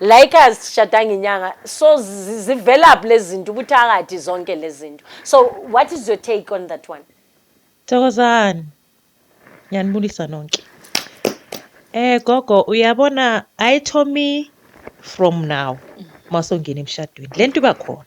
like azishadanga inyanga so zi- zivelaphi lezi zinto ubuthakathi zonke lezi zinto so what is your take on that one Thokozani. Ngiyanibulisa nonke. Eh gogo uyabona I told me from now masongena emshadweni. Lento iba khona.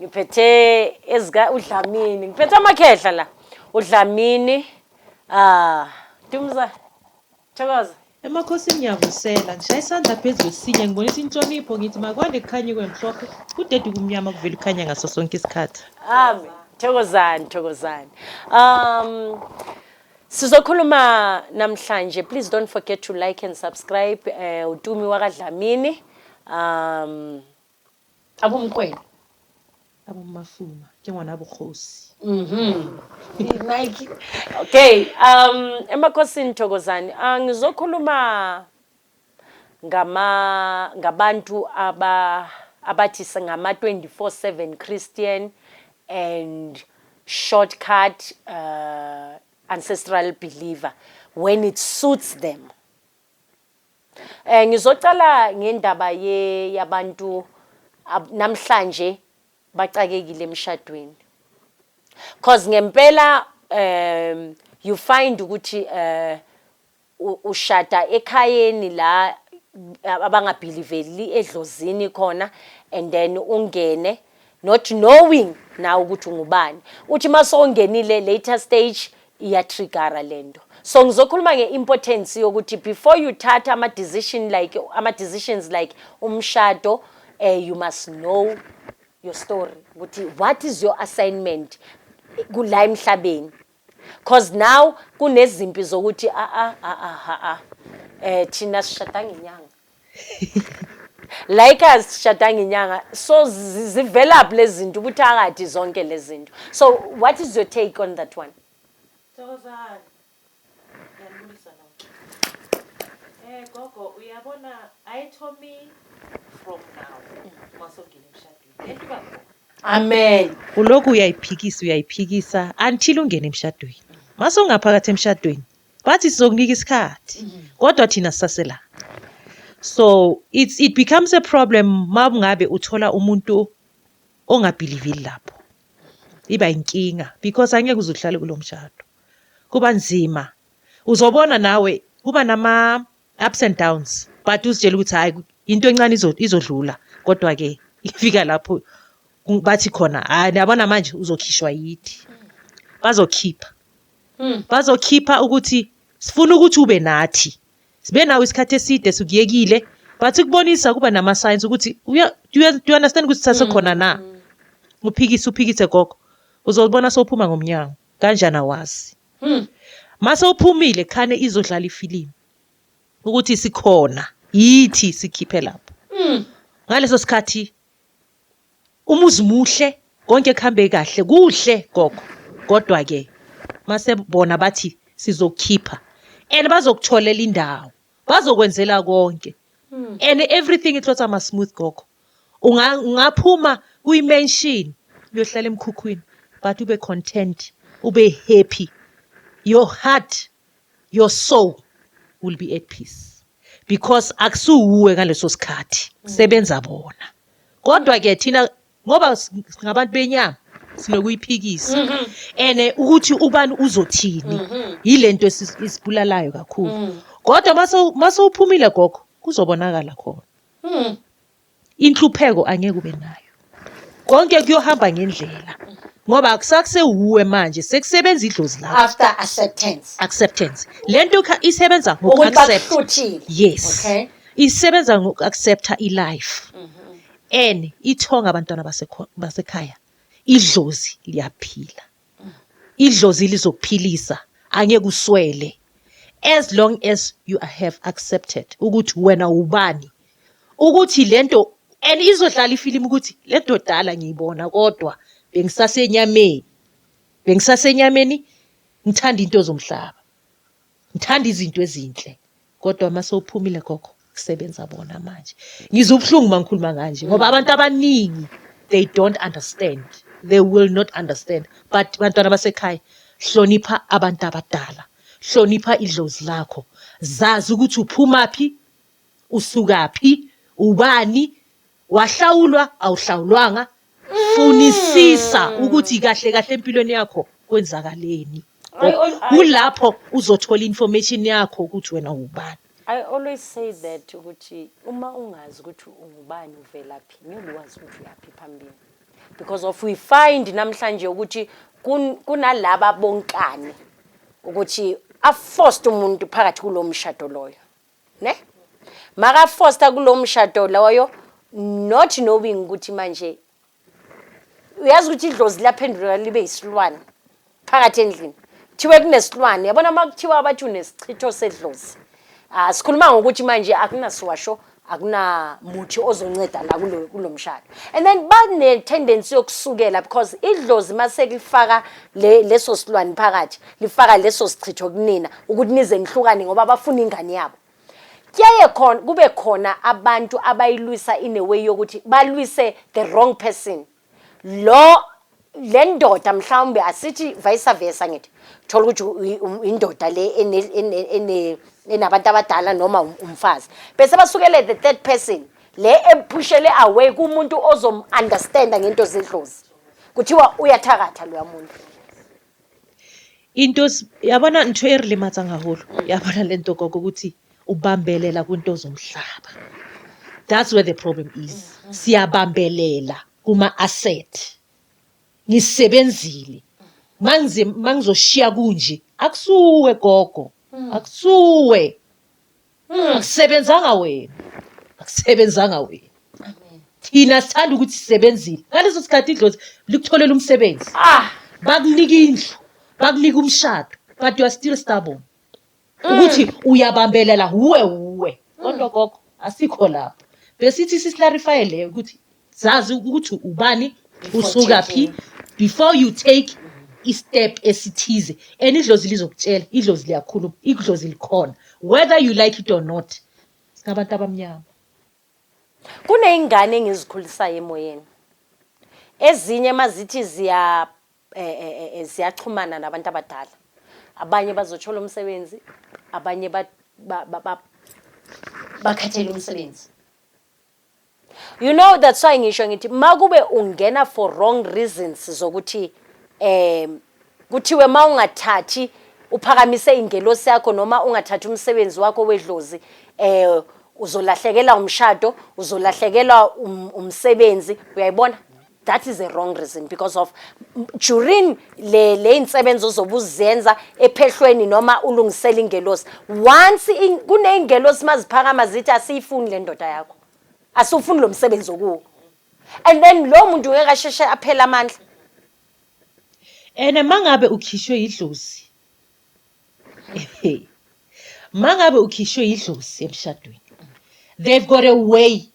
ngiphethe ezika udlamini ngiphethe amakhehla la udlamini ah dumza thokoza Emakhosini ngiyavusela, ngishaya isandla phezu kwesinye, ngibonisa inhlonipho, ngithi makwande kukhanye kube mhlophe, kudede ubumnyama kuvele ukukhanya ngaso sonke isikhathi. Amen. Thokozani, thokozani. Um sizokhuluma namhlanje. Please don't forget to like and subscribe uh, uTumi wakaDlamini. Um Abomkwena. Abomafuma njengoba nabokhosi. Mhm. Nike. Okay, um emakhosini thokozani. Ah ngizokhuluma ngama ngabantu aba abathi singama 24/7 Christian and shortcut uh ancestral believer when it suits them. Eh ngizocala ngendaba ye yabantu namhlanje bacakekile emshadweni. Cause ngempela um you find ukuthi eh ushada ekhayeni la abangabhiliveli edlozini khona and then ungene not knowing nawe ukuthi ungubani uthi uma sowungenile later stage iyatrigara le nto so ngizokhuluma nge-importance yokuthi before you thatha ama-decision like ama-decisions like umshado um you must know your story ukuthi what is your assignment kula emhlabeni cause now kunezimpi zokuthi a-a a-a ha-a um thina sishada ngenyanga like azishadanga inyanga so zivelaphi lezi zinto ubuthakathi zonke lezi zinto so what is your take on that one thokozani ngiyanibulisa no eh gogo uyabona i told me from now masongile emshadweni lento babo amen ulokhu uyayiphikisa uyayiphikisa until ungene emshadweni mase ungaphakathi emshadweni bathi sizokunika isikhathi kodwa thina sisasela so it's, it becomes a problem uma kungabe uthola umuntu ongabhilivili lapho iba inkinga because angeke uze uhlale kulo mshado kuba nzima uzobona nawe kuba nama ups and downs but uzitshela ukuthi hayi into encane izodlula kodwa ke ifika lapho bathi khona hayi niyabona manje uzokhishwa yithi bazokhipha hmm. bazokhipha ukuthi sifuna ukuthi ube nathi sibe nawo isikhathi eside sikuyekile but kubonisa kuba nama signs ukuthi do you understand ukuthi sasekhona hmm. na uphikise uphikise gogo uzobona sophuma ngomnyango kanjani awazi Hmm. Mase uphumile khane izodlala ifilimu ukuthi sikhona yithi sikhiphe lapho. Hmm. Ngaleso sikhathi umuzi muhle konke kuhambe kahle kuhle gogo kodwa ke mase bona bathi sizokhipha and bazokutholela indawo. bazokwenzela konke hmm. and everything it was ama smooth gogo ungaphuma kuyi mansion uyohlala emkhukhwini but ube content ube happy your heart your soul will be at peace because akusuwuwe ngaleso sikhathi hmm. sebenza bona kodwa ke thina ngoba s- singabantu benyama sinokuyiphikisa Mhm. and eh, ukuthi ubani uzothini Mhm. yilento esi- isibulalayo kakhulu Mm. kodwa mase- mase uphumile gogo kuzobonakala khona Mm. inhlupheko angeke ube nayo konke kuyohamba ngendlela ngoba akusakusewuwe manje sekusebenza idlozi lakho after acceptance acceptance le nto ikha- isebenza ukuthi ngoku-accept bakuhluthile yes okay isebenza ngoku-accepta ilife Mhm. Ene ithonga abantwana basekhaya idlozi liyaphila idlozi lizokuphilisa angeke uswele as long as you have accepted ukuthi wena ubani ukuthi lento and izodlala ifilimu ukuthi le dodala ngiyibona kodwa bengisasenyameni bengisasenyameni ngithanda into zomhlaba Ngithanda izinto ezinhle kodwa uma sewuphumile gogo kusebenza bona manje. Ngizwa ubuhlungu uma ngikhuluma kanje ngoba abantu abaningi they don't understand. They will not understand. But bantwana basekhaya hlonipha abantu abadala. Hlonipha idlozi lakho. Zazi ukuthi uphumaphi, usukaphi, ubani Wahlawulwa awuhlawulwanga funisisa mm. ukuthi kahle kahle empilweni yakho kwenzakaleni kulapho uzothola information yakho ukuthi wena ubani I always say that ukuthi uma ungazi ukuthi ungubani uvelaphi ngeke wazi ukuthi uyaphi phambili because of we find namhlanje ukuthi kunalaba bonkane ukuthi aforced umuntu phakathi kulomshado loyo ne maka foster kulo mshado loyo not knowing ukuthi manje uyazi ukuthi idlozi laphenduleka libe yisilwane phakathi endlini kuthiwe kunesilwane yabona uma kuthiwa abathi unesichitho sedlozi ah sikhuluma ngokuthi manje akunasiwasho akunamuthi ozonceda la kulo kulo mshado and then bane tendency yokusukela because idlozi maselifaka le leso silwane phakathi lifaka leso sichitho kunina ukuthi nize nihlukane ngoba bafuna ingane yabo kuyaye khona kube khona abantu abayilwisa in a way yokuthi balwise the wrong person lo le ndoda mhlawumbe asithi vice versa ngithi thola ukuthi indoda le enabantu abadala noma um, umfazi bese basukele the third person le ephushele away kumuntu ozom-understanda ngento zedlozi kuthiwa uyathakatha loya muntu Into yabona ntho e re lematsang haholo yabona le nto gogo ukuthi ubambelela kwinto zomhlaba that's where the problem is siyabambelela kuma-asset ngisebenzile mangizoshiya kunje akusuwe gogo akusuwe Mm, sebenzanga wena akusebenzanga wena thina sithanda ukuthi sisebenzile ngaleso sikhathi idlozi likutholela umsebenzi ah bakunika indlu bakunika umshado but you are still stubborn ukuthi uyabambelela wuwe wuwe kodwa gogo asikho lapho besithi sisilarifye leyo ukuthi zazi ukuthi ubani usuka phi before you take istep esithize and idlozi lizokutshela idlozi liyakhuluma idlozi likhona whether you like it or not singabantu abamnyama kuneyingane engizikhulisayo emoyeni ezinye mazithi ziya eh, eh, eh, eh ziyaxhumana nabantu abadala abanye bazothola umsebenzi abanye bakhathele umsebenzi You know that's why ngisho ngithi makube ungena for wrong reasons zokuthi eh kuthiwe mawungathathi uphakamise ingelosi yakho noma ungathathi umsebenzi wakho wedlozi eh uzolahlekela umshado uzolahlekelwa um, umsebenzi uyayibona that is a wrong reason because of during le le insebenzo zobuzenza ephehlweni noma ulungisela ingelosi once in, kuneingelosi maziphakama zithi asiyifuni le ndoda yakho asufuni lo msebenzi okuwo and then lo muntu ngeke asheshe aphela amandla ene mangabe ukhishwe yidlozi mangabe ukhishwe yidlozi emshadweni they've got a way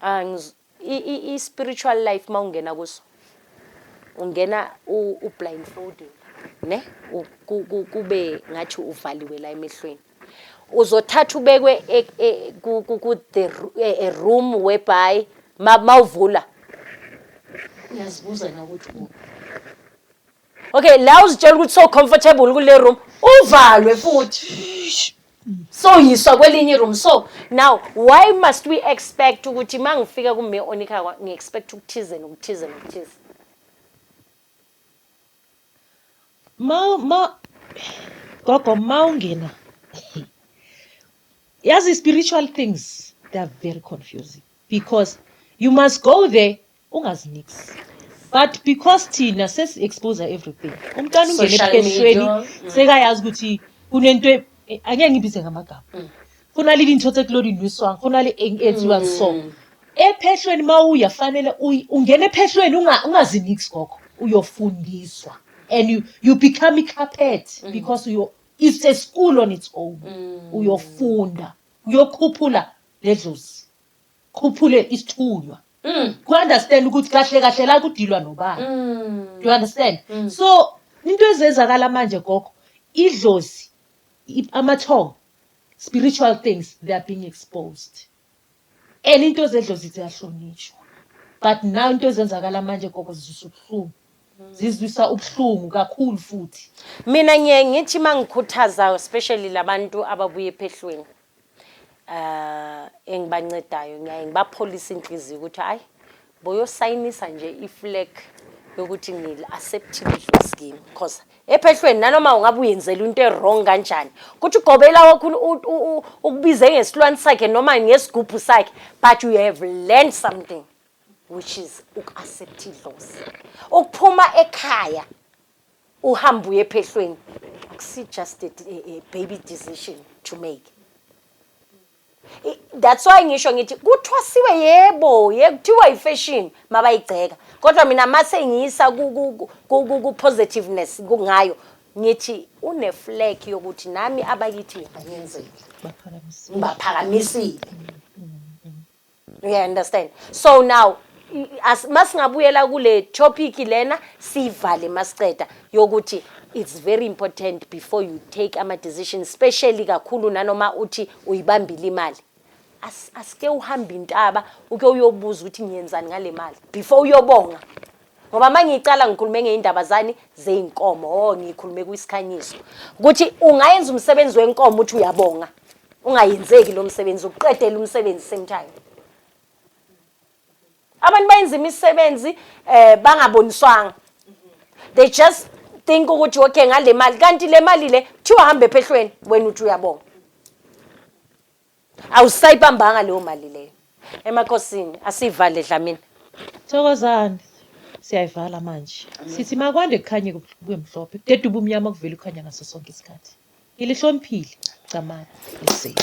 Ah, ngiz- i- i- i-spiritual life uma ungena kuso ungena u- ublindfolded ne U- ku- ku- kube ngathi uvaliwe la emehlweni uzothatha ubekwe e- e- ku- ku- ku- the ru- e- e room whereby ma- mawuvula uyazibuza na ukuthi u- Okay, la uzitshela ukuthi so comfortable kule room, uvalwe futhi. So yiswa kwelinye room. So now why must we expect ukuthi mangifika kume onika kwa- ngi expect ukuthize nokuthize nokuthize. ma ma gogo ma ungena yazi spiritual things they are very confusing because you must go there Ungazi nix. But because thina sesi expose everything. Umntwana ungene ebukeshweni mm. sekayazi ukuthi kunento e- e- angeke ngibize ngamagama. Mm. Khona lili into ekulona iniswang, khona le enziwa mm. so. Ephehlweni mawuya fanele ungene ephehlweni ungazi nix gogo. Uyofundiswa and you you become a carpet because you it's a school on its own. Uyofunda, uyokhuphula ledlozi. khuphule isithunywa mm. ku understand ukuthi kahle kahle la kudilwa nobani mm. you understand mm. so into ezenzakala manje gogo idlozi amathongo spiritual things they are being exposed and into zedlozi ziyahlonishwa but now into ezenzakala manje gogo zizwisa ubuhlungu zizwisa ubuhlungu kakhulu futhi mina ngiye ngithi mangikhuthaza especially labantu ababuye ephehlweni eh engibancedayo ngiyaye ngibapholisa inhliziyo ukuthi hayi boyosayinisa nje iflag yokuthi ngil acceptile i scheme because ephehlweni nanoma ungabe uyenzela into ewrong kanjani kuthi ugobela wakho ukubize ngesilwane sakhe noma ngesigubhu sakhe but you have learned something which is uku-accept idlozi ukuphuma ekhaya Uhambe uye ephehlweni akusi just a, a, a baby decision to make. I- That's why ngisho ngithi kuthwasiwe yebo, ye kuthiwa ifashion mabayigceka. Kodwa mina mase ngiyisa ku ku ku- ku ku- ku positiveness ku- ngayo ngithi une flag yokuthi nami abakithi ngiyabanyenzela. Baphakamisile. Ngibaphakamisile. Yeah, understand. So now as masingabuyela kule topic lena sivale masiceda yokuthi it's very important before you take ama decision especially kakhulu nanoma uthi uyibambile imali asike uhambe intaba uke uyobuza ukuthi ngiyenzani ngale mali before uyobonga ngoba uma ngiyicala ngikhulume ngey'ndaba zani zey'nkomo o oh, ngikhulume kwisikhanyiso ukuthi ungayenza umsebenzi wenkomo ukuthi uyabonga ungayenzeki lo msebenzi uqedele umsebenzi same time abantu bayenza imisebenzi eh bangaboniswanga they just think ukuthi okay ngale mali kanti le mali le kuthiwa hambe phehlweni wena uthi uyabonga Awusayibambanga leyo mali leyo. Emakosini asivale Dlamini. Thokozani. Siyayivala manje. Sithi makwande kukhanye kube mhlophe. Kudedube umnyama kuvele ukhanya ngaso sonke isikhathi. Ngilihloniphile igcamani lesedi.